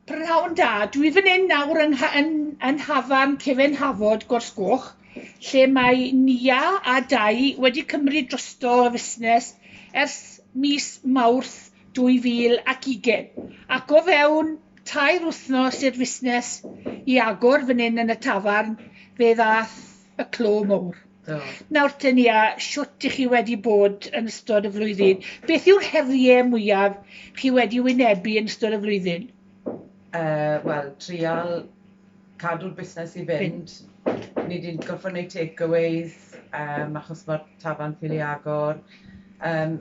P'nawn da, dwi fan hyn nawr yn, yn, yn hafan cefen hafod Gorsgoch, lle mae Nia a Dai wedi cymryd drosto y fusnes ers mis Mawrth 2020. Ac o fewn tair wythnos i'r fusnes i agor fan hyn yn y tafarn, fe ddath Y clo mowr. Do. Nawr te Nia, shwt 'ych chi wedi bod yn ystod y flwyddyn? Beth yw'r herie mwyaf chi wedi wynebu yn ystod y flwyddyn? Yy, wel, trial cadw'r busnes i fynd. Ni 'di gorffod neud takeaways, yym, achos ma'r tafarn ffili agor. Yym.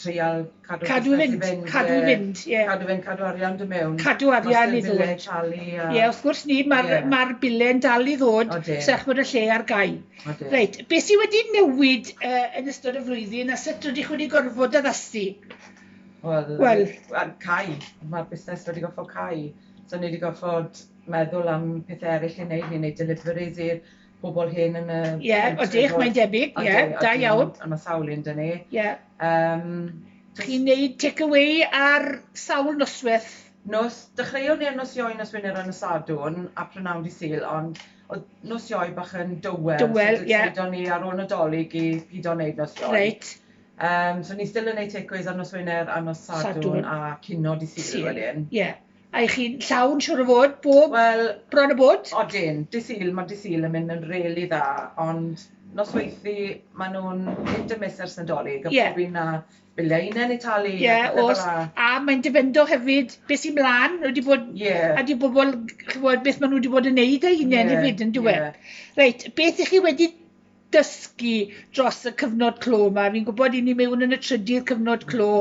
treial cadw cadw i fynd, fynd cadw i fynd, ie. Cadw fynd, cadw arian dy mewn. Cadw arian i ddod. Master talu a... Ie, wrth gwrs ni, mae'r yeah. ma bile'n dal i ddod, sech bod y lle ar gau. Reit, beth sydd wedi newid uh, yn ystod y flwyddyn a sut rydych wedi gorfod addasu? Wel, well. cau. Mae'r busnes wedi gorfod cau. So ni wedi gorfod meddwl am pethau eraill i wneud, ni'n wneud deliveries i'r bobl hen yn y pentre. Ie, odych, mae'n debyg, ie, da iawn. A mae sawl un dyn ni. Ie. Um, Chi'n neud take-away ar sawl noswaith? Nos, dechreuwn ni ar nos Ioi, nos Wener a nos Sadwrn, a prynawn di Sul, ond oedd nos Ioi bach yn dywel. Dywel, ie. So, dyna ni ar ôl Nadolig i pido wneud nos Ioi. Reit. Um, so ni still yn neud take-aways ar nos Wener a nos Sadwrn, Sadwrn. a cino di Sul, Sul. wedyn. Ie. A y'ch chi'n llawn siŵr o fod bob Wel, bron a bod? Odyn, Dydd Sul, ma' Dydd Sul yn mynd yn rili dda ond nosweithu ma' nhw'n hit and miss ers Nadolig a pob un a biliau hunain i talu a pethe fel 'na. Ie o's, a mae'n dipendo hefyd be sy' mlan, nw 'di bod a 'di bobl chi'n gwbod beth ma' nhw 'di bod yn neud eu hunain hefyd yndyw e? Reit, beth y'ch chi wedi dysgu dros y cyfnod clo 'ma. Fi'n gwybod i ni mewn yn y trydydd cyfnod clo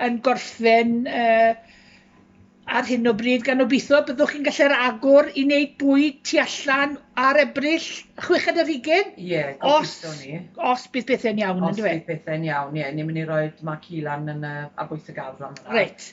yn gorffen uh, ar hyn o bryd gan obeithio byddwch chi'n gallu'r agor i wneud bwyd tu allan ar ebryll chweched yr hugen? Ie, yeah, os, ni. Os bydd pethau'n iawn, ynddo e? Os bydd pethau'n iawn, ie. Yeah. Ni'n mynd i roi mac hilan yn y abwyth y gardd am yna. Reit.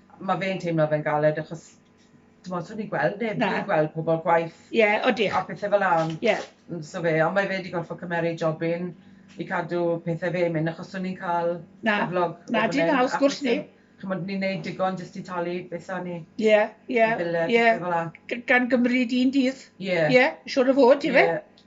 Ma' fe'n teimlo fe'n galed achos t'mod swn i gweld neb... Na. ...fi'n gweld pobol gwaith... Ie odych. ...a pethe fela on'... Ie. ...n- so fe on' mae fe 'di gorffo cymeru jobyn i cadw pethe fe myn' achos swn i'n ca'l... Na. ...cyflog o fyn 'yn. Na dim haws gosh ni. Ch'mod ni'n neud digon jyst i talu beth sa ni... Ie ie. ...y bile a pethe fela. Ie g- gan gymryd un dydd. Ie. Ie siŵr o fod yfe? Ie.